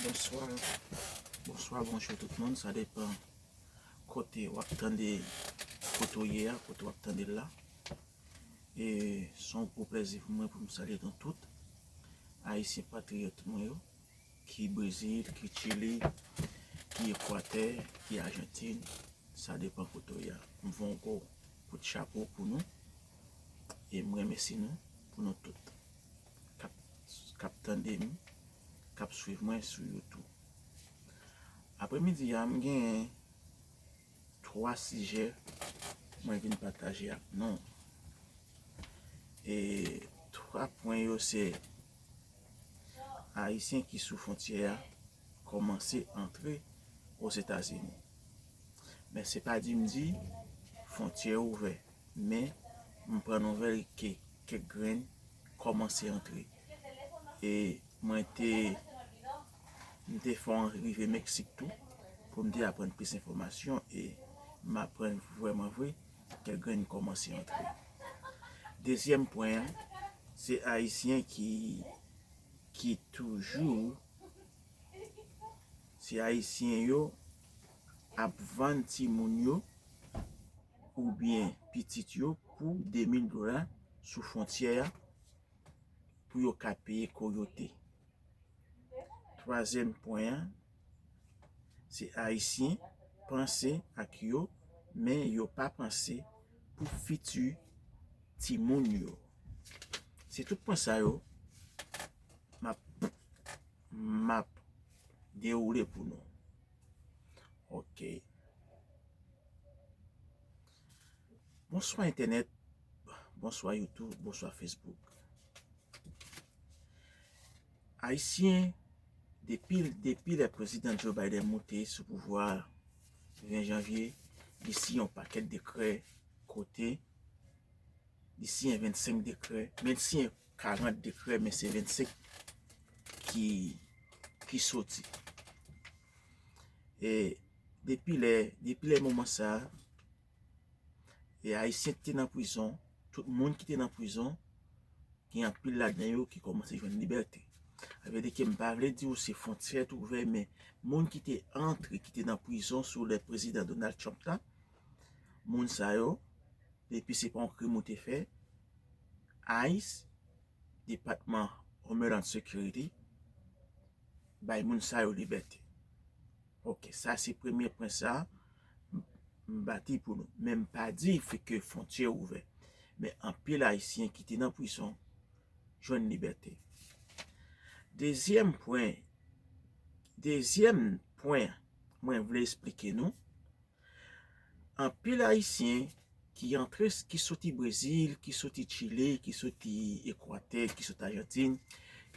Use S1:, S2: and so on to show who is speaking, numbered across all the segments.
S1: Bonswa, bonswa, bonjou tout moun, sa depan kote wap tande, kote ou ye a, kote wap tande la e son gwo plezi pou mwen pou m salye nou tout Ayisyen patriyòt mwen yo. Ki Brezil, ki Chili, ki Ekwatè, ki Ajantin, sa depan kote ou ye. M voye yon gwo kout chapo pou nou e m remèsye nou pou nou tout k ap tande m, k ap swiv mwen sou YouTube. Apremidi a m genyen. 3 sijè mwen vin pataje ak nou. E 3 pwen yo se Ayisyen ki sou fontyè a kòmanse antre Ozetazini. Men se pa di m di fontyè ouvè. Men m pran nouvèl ke kèk grenn kòmanse antre. E mwen te. M te fon rive Meksik tou pou m te aprann plis enfòmasyon e m aprann vrèman vre kèk grenn kòmanse antre. Dezyèm pwen an, se Ayisyen ki toujou, se Ayisyen yo ap vann timoun yo oubyen pitit yo pou 2000 dola sou fwontyè a pou yo ka peye koyote. Twazyèm pwen an, se Ayisyen panse ak yo men yo pa panse pou fiti timoun yo. Se tout pwen sa yo m ap dewoule pou nou. Ok. Bonswa entènèt, bonswa youtube, bonswa facebook. Ayisyen depi lè prezidan Joe Biden moute sou pouvwa 20 janvye li siyen yon pakèt dekrè kote li siyen 25 dekrè men li siyen 40 dekrè men se 25 ki soti e depi lè moman sa E ayisyen ki te nan prizon, tout moun ki te nan prizon, gen anpil ladan yo ki kòmanse jwenn libète. Sa vle di ke m pa vle di ou se fwontyè te ouvè men moun ki te antre, ki te nan prizon sou lè prezidan Donald Trump la, moun sa yo, depi se pa yon krim ou te fè, ice, Depatman Homeland Security, bay moun sa yo libète. Ok sa se premye pwen sa m bati pou nou men m pa di fi ke fontyè ouvè men anpil ayisyen ki te nan prizon jwenn libète dezyèm pwen dezyèm pwen mwen vle esplike nou. Anpil ayisyen ki antre ki soti brezil, ki soti chile, ki soti ekwatè, ki soti ajantin,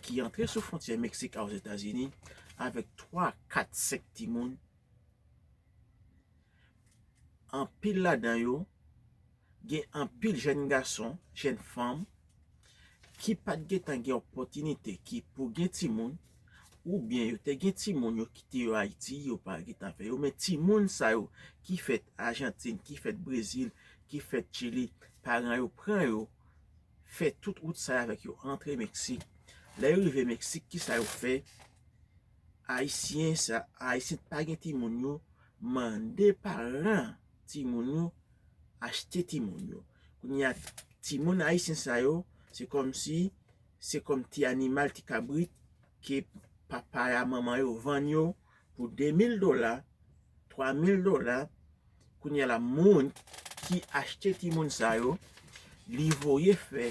S1: ki antre sou fwontyè meksik a ozetazini avèk 3, 4, 5 timoun, anpil ladan yo. Gen anpil jèn gason, jèn fanm ki pat gen tan gen opotinite ki pou gen timoun ou byen yo te gen timoun yo kite yo Ayiti yo pa gen tan fè yo men timoun sa yo ki fèt Ajantin, ki fèt Brezil, ki fèt Chili paran yo pran yo fè tout wout sa yo avèk yo antre Meksik. Lè yo rive Meksik ki sa yo fè? Ayisyen sa, Ayisyen ki pa gen timoun yo mande paran timoun yo. achte timoun yo kounye a timoun ayisyen sa yo se kòm si se kòm ti animal ti kabrit ke papa a manman yo vann yo pou 2000 dola 3000 dola kounye a la moun ki achte timoun sa yo li voye fè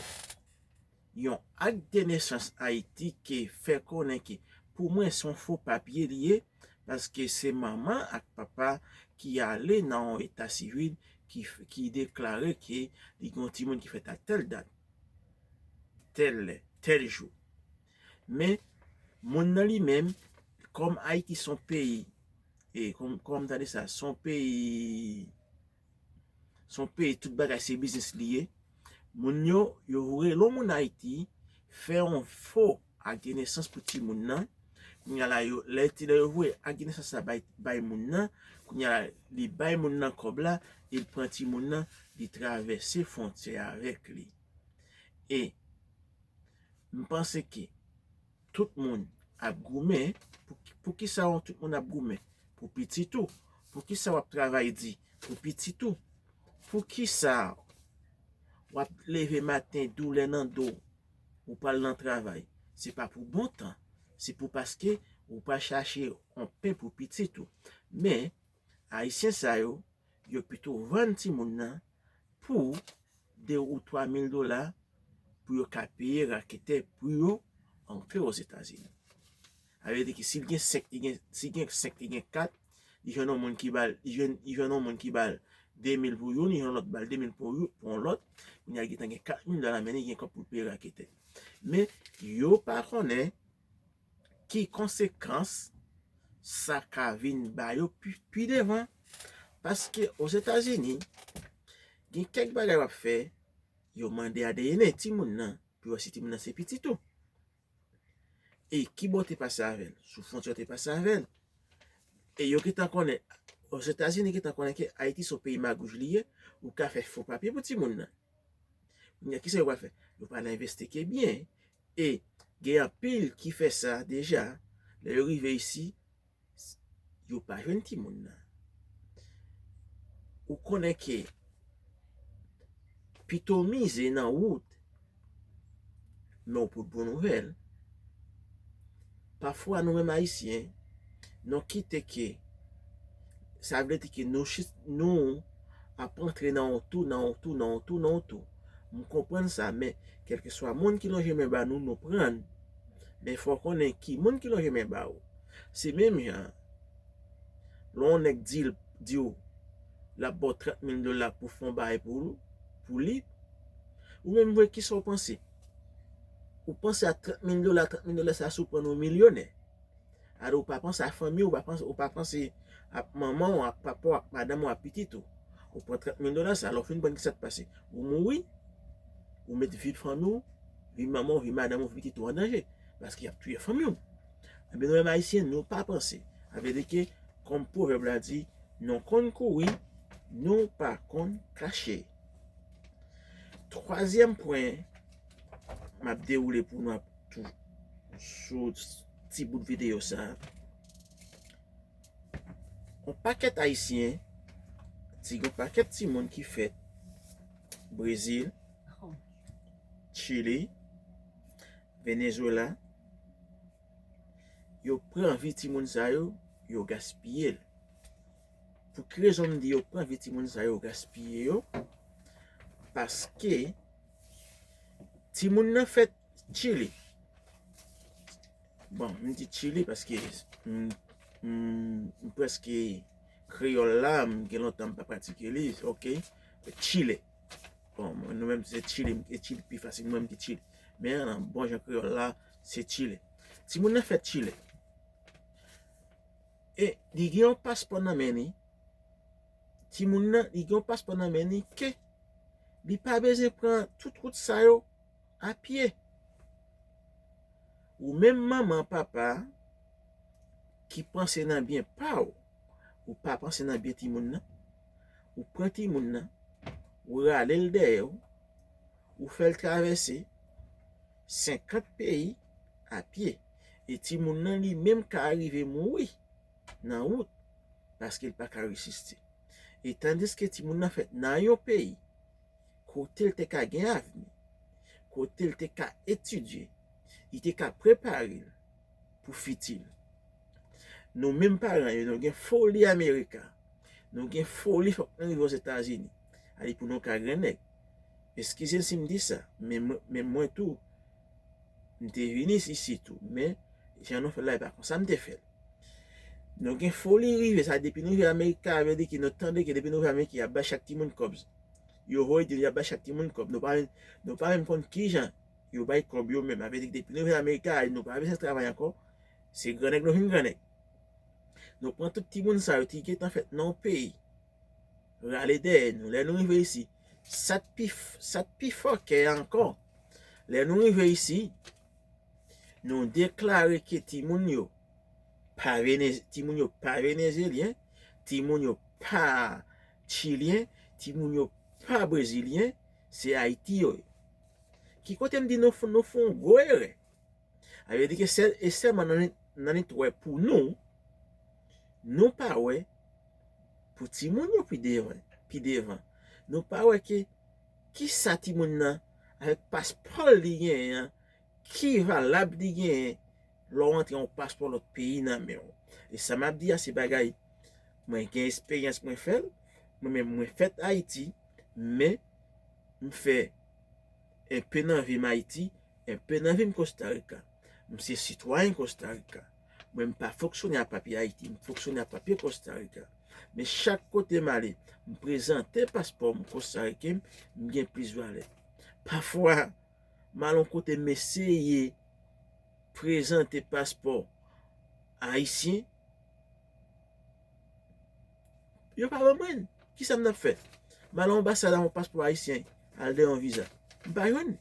S1: Yon Acte de naissance Haïti ke fè konnen ke pou mwen son fo papye li ye paske se manman ak papa ki ale nan yon eta sivil ki deklare ke li gen yon timoun ki fèt a tèl dat, tèl lè, tèl jou. Men moun nan li menm kòm Ayiti son peyi e kòm m tande sa son peyi Son peyi tout bagay se biznis li ye. Moun yo, yo rele yon moun Ayiti, fè yon fo ak de nesans pou ti moun nan. Kounye a la yo, lè ti lè yo voye ak de nesans la bay bay moun nan, kounye a la li bay moun nan kòb la, li pran ti moun nan, li travèse fwontyè avèk li. E m panse ke. Tout moun ap goumen pou kisa w tout moun ap goumen pou pitit ou pou kisa w ap travay di pou pitit ou pou kisa w ap leve maten doulè nan do ou pa al nan travay se pa pou bon tan se pou paske ou pa chache yon pen pou pitit ou men Ayisyen sa yo, yo pito vann timoun nan pou 2 ou 3 mil dola pou yo ka peye raketè pou yo antre Ozetazini. Sa vle di ki si l gen 5, li gen, si gen 5, li gen 4, li jwenn yon moun ki ba l, li jwenn yon moun ki ba l 2 mil pou youn, li jwenn yon lòt ba l 2 mil pou yon lòt, kounya li gentan gen 4 mil dola nan men li, li gen kòb pou l peye raketè. Men, yo pa konnen. ki konsekans sa ka vin ba yo pi devan. Paske Ozetazini, gen kèk bagay w ap fè, yo mande adn timoun nan pou yo wè si timoun nan se pitit ou. E ki bò w te pase avè l? Sou fwontyè w te pase avè l. E yo gentan konnen, Ozetazini gentan konnen ke Ayiti se yon peyi magouj li ye, ou ka fè fo papye pou timoun nan. Kounye a, ki sa yo pral fè? Yo pral envestike byen. E gen anpil ki fè sa deja, lè yo rive isi, yo pa jwenn timoun nan. Ou konnen ke pito w mize nan wout, men w pote bon nouvèl. Pafwa nou menm Ayisyen, nou kite ke, sa vle di ke nou chit, nou ap rantre nan yon tou, nan yon tou, nan yon tou, nan yon tou. M konprann sa, men kèlkeswa moun ki lonje men ba nou, nou pran l. Men fò w konnen ki moun ki lonje men ba ou. Se menm jan, lè yon nèg di l, di w l ap ba w 30 mil dola pou w fè yon bagay pou l, pou li, ou menm vre kisa w panse? Ou panse a 30 mil dola, 30 mil dola sa si w pran l ou milyonè. Alò ou pa panse a fanmi w, ou pa panse a manman w, ak papa w, ak madanm w, ak pitit ou. Ou pran 30 mil dola sa, lè w fin pran l ki sa k pase? Ou mouri, ou met vi fanmi w, vi manman w, vi madanm w, vi pitit ou an danje, paske y ap touye fanmi w. Ebyen nou menm Ayisyen nou pa panse. Sa vle di ke kòm pwovèb la di, nou konn kouri, nou pa konn kache. Twazyèm pwen m ap dewoule pou nou ap tou sou. ti bout videyo sa a. Yon pakèt Ayisyen, ti yon pakèt ti moun ki fèt Brezil, Chili, Venezuela, yo pran vi ti moun sa yo, yo gaspiye l. Pou ki rezon m di yo pran vi ti moun sa yo, yo gaspiye yo? Paske, ti moun nan fèt. Chili. Bon, m di Chili paske m preske kreyòl la, m gen lontan m pa pratike li. Ok, Chile. Bon, nou menm se Chili, m di Chili pi fasil, mwen m di Chili. Men, nan bon jan kreyòl la, se Chile. Ti moun nan fèt Chile. E, li gen yon paspò nan men ni. Ti moun nan, li gen yon paspò nan men ni ke li pa bezwen pran tout wout sa yo. a pye. Ou menm manman, papa ki panse nan byen pa ou, ou pa panse nan byen timoun nan, ou pran timoun nan, ou rale l dèyè ou, ou fè l travèse 50 peyi a pye. E timoun nan li menm ka rive mouri nan wout paske l pa ka resiste. E tandiske timoun nan fèt nan yon peyi. kote l te ka gen avni, kote l te ka etidye, li te ka prepare l pou fiti l. Nou menm paran yo, nou gen foli Amerika, nou gen foli fòk nou rive Ozetazini, ale pou nou ka gen nèg. Eskize m si m di sa, men mwen tou, m te vini isi tou, men jan nou fè l la e pa konsa m te fè l. Nou gen foli rive, sa depi nou rive Amerika, vle di ki nou tande ki depi nou rive Amerika y ap bay chak timoun kòb Yo voye di nou y ap bay chak timoun kòb. Nou pa menm konn ki jan yo bay kòb yo menm. Sa vle di ke depi nou vin Amerika a, nou pa bezwen travay ankò. Se gran nèg nou vin gran nèg. Nou pran tout timoun sa yo ki gen tan fèt nan yon peyi rale dèyè nou. Lè nou rive isi, sa k pi, sa k pi fòkè ankò, lè nou rive isi, nou deklare ke timoun yo pa, timoun yo pa venezyelyen, timoun yo pa. Chilien timoun yo pa brezilien se ayiti yo ye ki kote m di nou nou fon gwo erè a yo di ke sèl e sèman nan li t wè pou nou nou pa wè pou timoun yo pi devan pi devan nou pa wè ke kisa timoun nan avèk paspò l li genyen an Ki valab li genyen lè w antre yon paspò lòt peyi nan men w? E sa m ap di a se bagay mwen gen esperyans mwen fè l, mwen menm mwen fèt Ayiti men m fè enpe nan vi m Ayiti, enpe nan vi m Kostarika. M se sitwayen Kostarika men m pa fonksyone ak papye Ayiti, m fonksyone ak papye Kostarika. Men chak kote m ale m prezante paspò m kostariken m gen plis valè. Pafwa. Malon kote mesye ye prezante paspò ayisyen yo pa ban mwen kisa m tap fè m al anbasad avon paspò ayisyen al demann viza m pa jwenn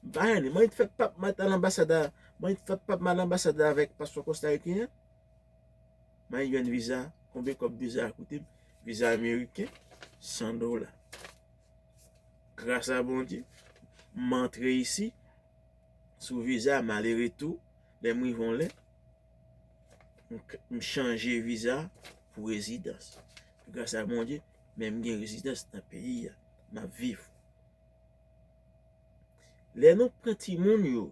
S1: m pa jwenn mwen fè pap mwen tal anbasad a mwen fè pap mwen al anbasad la avèk paspò kostariken an mwen jwenn viza konbyen kòb viza a koute m viza ameriken 100 dola. Gras a Bondye, m antre isi, sou viza, m ale retou, lè m rive yon lè, m chanje viza pou rezidans. Gras a Bondye, men m gen rezidans nan peyi a, m ap viv. Lè nou pran timoun yo,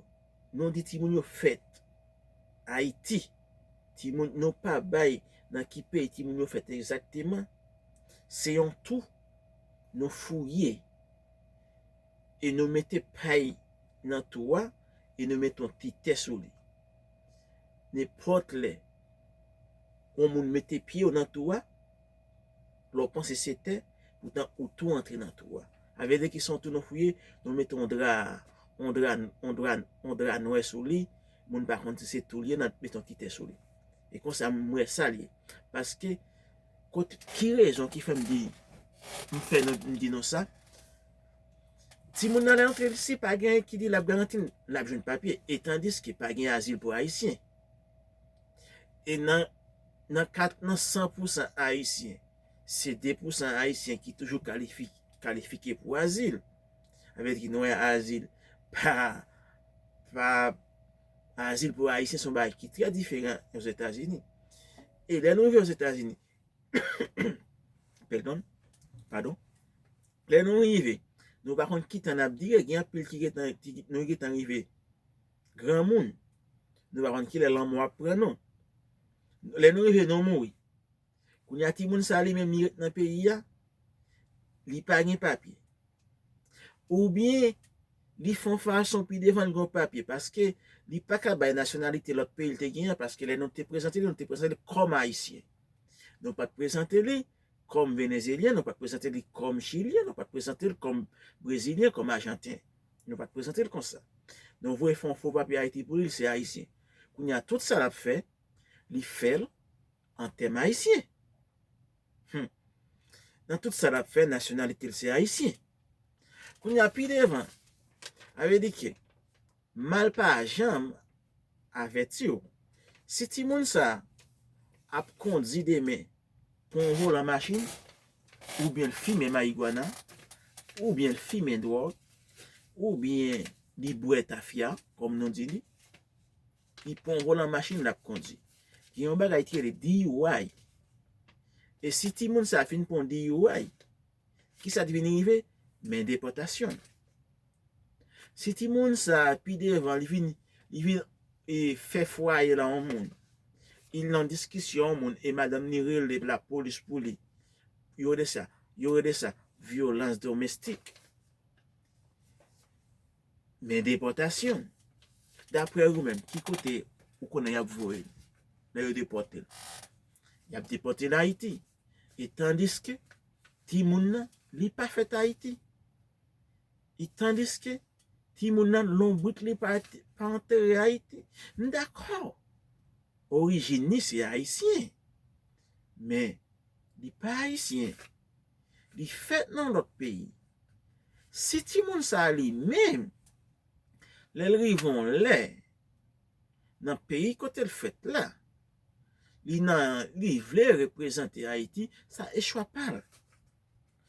S1: nou di timoun yo fèt Ayiti, timoun nou pa bay nan ki peyi timoun yo fèt egzakteman, se yon tou. nou fouye e nou mete pay nan tou a e nou mete yon ti tè sou li. Nenpòt lè yon moun mete pye w nan tou a, lè w panse se tè, poutan ou tou antre nan tou a. A vle di ki son tou nou fouye, nou mete yon dra, yon dra, yon dra, yon dra nwè sou li, moun pa konn si se tou li ye, nan mete yon ti tè sou li. E konsa m wè sa l ye. Paske. Kot ki rezon ki fèm di m fè non m di non sa timoun nan lè antre lsi pa gen ki di lap garanti l lap jwenn papye e tandiske pa gen azil pou ayisyen e nan nan kat nan san pou san ayisyen se de pou san ayisyen ki toujou kalifi kalifike pou azil sa vle di nou wè azil pa pa azil pou ayisyen se yon bagay ki trè diferan ozetazini E lè nou rive Ozetazini, pèdon, padon, lè nou rive, nou pa konn ki tan n ap dire, gen anpil ki gen tan, nou gen tan rive granmoun, nou pa konn ki lè lanmò ap pran nou. Lè nou rive nou mouri. Kounye a timoun sa li menm li ret nan peyi a, li pa gen papye. Oubyen li fon fason pi devan li gen yon papye paske li pa ka bay nasyonalite lòt peyi li te gen an paske lè nou te prezante li nou te prezante li kòm ayisyen. Nou pat prezante li kòm venezyelyen, nou pat prezante li kòm chilyen, nou pat prezante li kòm brezilyen, kòm ajanten. Nou pat prezante li konsa. Nou voye fè yon fo papye Ayiti pou li, li se ayisyen. Kounye a tout sa l ap fè, li fè l. an tèm ayisyen. Hum! Nan tout sa l ap fè, nasyonalite l se ayisyen. Kounye a, pi devan, a vle di ke mal pa janm avèti w. Si timoun sa a ap kondi demen pou yon volan machin, oubyen l fimen mayigwana, oubyen l fimen dwòg, oubyen li bwè tafya, kòm nou di li, ki pran volan machin l ap kondi. Gen yon bagay ki rele DUI. E si timoun sa a fin pran yon DUI, ki sa ki vin rive? Men depòtasyon. Si timoun sa a pi devan li vin fè fwaye la yon moun, li nan diskisyon yon moun e madanm li rele lapolis pou li, yo rele sa vyolans domestik. Men depòtasyon. Daprè ou menm ki kote ou konnen y ap voye l lè yo depòte l? Y ap depòte l Ayiti. E tandiske timoun nan li pa fèt Ayiti. E tandiske timoun nan lonbrit li pa antere Ayiti. M dakò orijin li se ayisyen men li pa ayisyen. Li fèt nan lòt peyi. Si timoun sa a li menm, lè l rive yon lè, nan peyi kote l fèt la, li nan, li vle reprezante Ayiti, sa e chwa pa l.